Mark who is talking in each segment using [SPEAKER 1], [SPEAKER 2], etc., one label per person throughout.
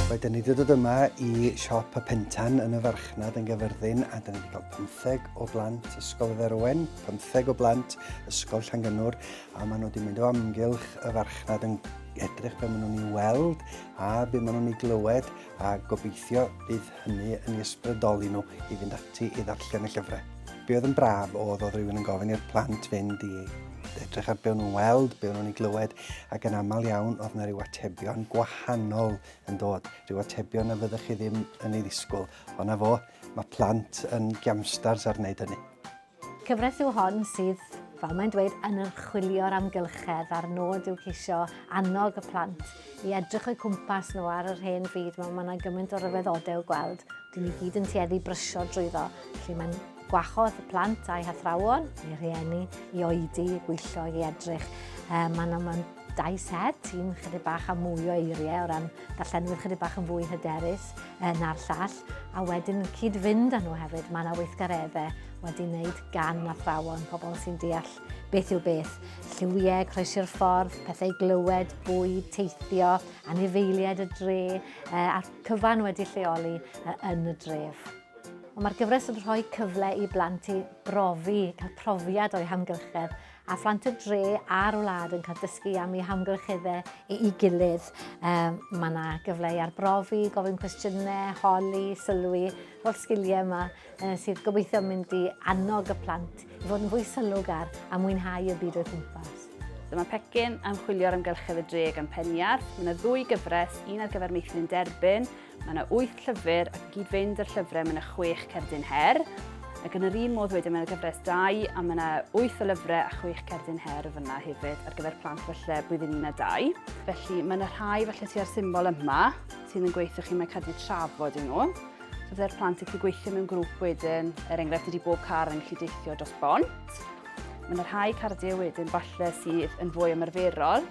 [SPEAKER 1] Wedyn ni wedi dod yma i siop y Pentan yn y farchnad yn Gyfyrddin a dyn ni wedi cael pymtheg o blant Ysgol Dderwen, pymtheg o blant Ysgol Llangynwr, a maen nhw wedi mynd o amgylch y farchnad yn edrych beth maen nhw'n ei weld a beth maen nhw'n ei glywed, a gobeithio bydd hynny yn ei ysbrydoli nhw i fynd ati i ddarllen y llyfrau. Be oedd yn braf oedd oedd rhywun yn gofyn i'r plant fynd i edrych ar be nhw'n weld, be nhw'n ei glywed, ac yn aml iawn oedd yna rhyw atebion gwahanol yn dod, rhyw atebion na fyddech chi ddim yn ei ddisgwyl. Ond na fo, Mae plant yn giamstars ar wneud hynny. Cyfres yw
[SPEAKER 2] hon sydd, fel mae'n dweud, yn archwilio'r amgylchedd a'r nod yw ceisio annog y plant i edrych o'i cwmpas nhw ar yr hen fyd. Mae yna gymaint o ryfeddodau i'w gweld. Dyn ni gyd yn tueddu brysio drwyddo. Felly mae'n gwahodd y plant a'i hathrawon, neu rhieni, i oedi, i bwyllo, i edrych. Um, mae yna Dau set, un chydig bach a mwy o eiriau o ran darllenwyr chydig bach yn fwy hyderus eh, na'r llall, a wedyn cyd-fynd â nhw hefyd, mae yna weithgareddau wedi wneud gan athrawon, pobl sy'n deall beth yw beth, lliwiau, croesi'r ffordd, pethau glywed, bwyd, teithio, anifeiliaid y dre, eh, a'r cyfan wedi lleoli eh, yn y dref. Mae'r gyfres yn rhoi cyfle i blant i brofi, cael profiad o'i hamgylchedd a phlant y dre a'r wlad yn cael dysgu am eu hamgylcheddau ei gilydd. Um, mae yna gyfle i arbrofi, gofyn cwestiynau, holi, sylwi, fel sgiliau yma uh, sydd gobeithio mynd i annog y plant i fod yn fwy sylwgar a mwynhau y byd o'r gwmpas. Dyma pecyn
[SPEAKER 3] am chwilio'r amgylchedd y dre gan Peniarth. Mae yna ddwy gyfres, un ar gyfer meithrin derbyn Mae yna wyth llyfr ac yn gyd-fynd â'r llyfrau mae yna chwech cerdyn her. Ac yn yr un modd wedyn mae yna gyfres dau a mae yna wyth o lyfrau a chwech cerdyn her o fyna hefyd ar gyfer plant falle blwyddyn un a dau. Felly mae yna rhai falle ti ar symbol yma sydd yn gweithio chi mae cadw trafod i nhw. So fydde'r plant yn gallu gweithio mewn grŵp wedyn, er enghraifft ydy bob car yn gallu deithio dros bont. Mae yna rhai cardiau wedyn falle sydd yn fwy ymarferol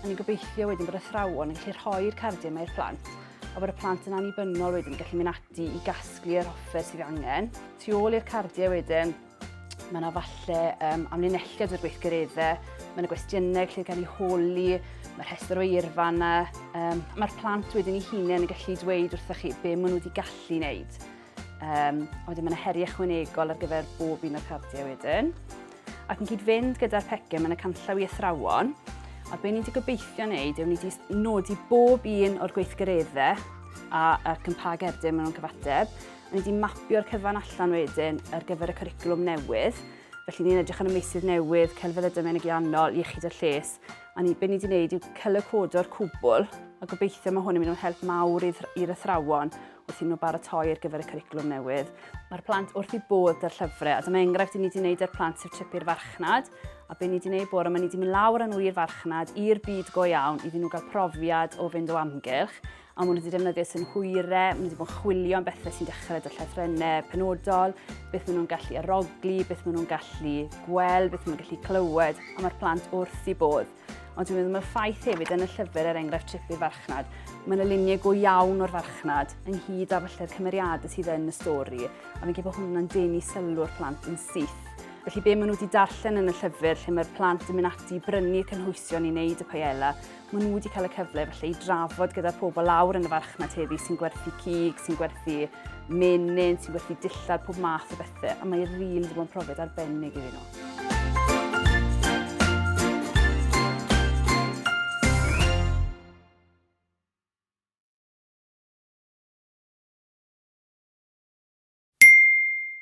[SPEAKER 3] A ni'n gobeithio wedyn bod athrawon yn gallu rhoi'r cardiau yma i'r plant a bod y plant yn annibynnol wedyn yn gallu mynd ati i gasglu yr offer sydd angen. Tu ôl i'r cardiau wedyn, mae yna falle um, amlinelliad o'r gweithgareddau, mae yna gwestiynau lle gan ei holi, mae rhestr o eirfa yna. Um, Mae'r plant wedyn i hunain yn gallu dweud wrthych chi be maen nhw wedi gallu wneud. Um, a wedyn mae yna heriau chwynegol ar gyfer bob un o'r cardiau wedyn. Ac yn cyd-fynd gyda'r pecyn, mae yna canllaw i athrawon. A be ni wedi gobeithio wneud yw ni wedi nodi bob un o'r gweithgareddau a, ac yn pa gerdyn maen nhw'n cyfateb. A ni wedi mapio'r cyfan allan wedyn ar gyfer y curriculum newydd. Felly ni'n edrych ar y meysydd newydd, celfyddydau menegiannol, iechyd a lles. A ni, be ni wedi wneud yw cylycodo'r cwbl a gobeithio mae hwn yn mynd o'n help mawr i'r athrawon wrth iddyn nhw baratoi ar gyfer y cwricwlwm newydd. Mae'r plant wrth i bod ar llyfrau, a dyma enghraifft i ni wedi gwneud ar plant sef trip i'r farchnad, a be ni wedi gwneud bore yma, ni wedi mynd lawr â nhw i'r farchnad, i'r byd go iawn, iddyn nhw gael profiad o fynd o amgylch, a maen nhw wedi defnyddio synhwyrau, maen nhw wedi bod yn chwilio am bethau sy'n dechrau dy llethrennau penodol, beth maen nhw'n gallu arogli, beth maen nhw'n gallu gweld, beth maen nhw'n gallu clywed, a mae'r plant wrth i bod. Ond dwi'n meddwl mae'r ffaith hefyd yn y llyfr er enghraifft Trip i'r Farchnad, mae yna luniau go iawn o'r farchnad ynghyd â falle'r cymeriadau sydd yn y stori, a fi'n gwybod bod hwnna'n denu sylw'r plant yn syth. Felly be maen nhw wedi darllen yn y llyfr lle mae'r plant yn mynd ati i brynu cynhwysion i wneud y paella, maen nhw wedi cael y cyfle felly i drafod gyda'r pobl lawr yn y farchnad heddi sy'n gwerthu cig, sy'n gwerthu menyn, sy'n gwerthu dillad, pob math o bethau. Fe, a mae rili wedi bod yn profiad arbennig iddyn nhw.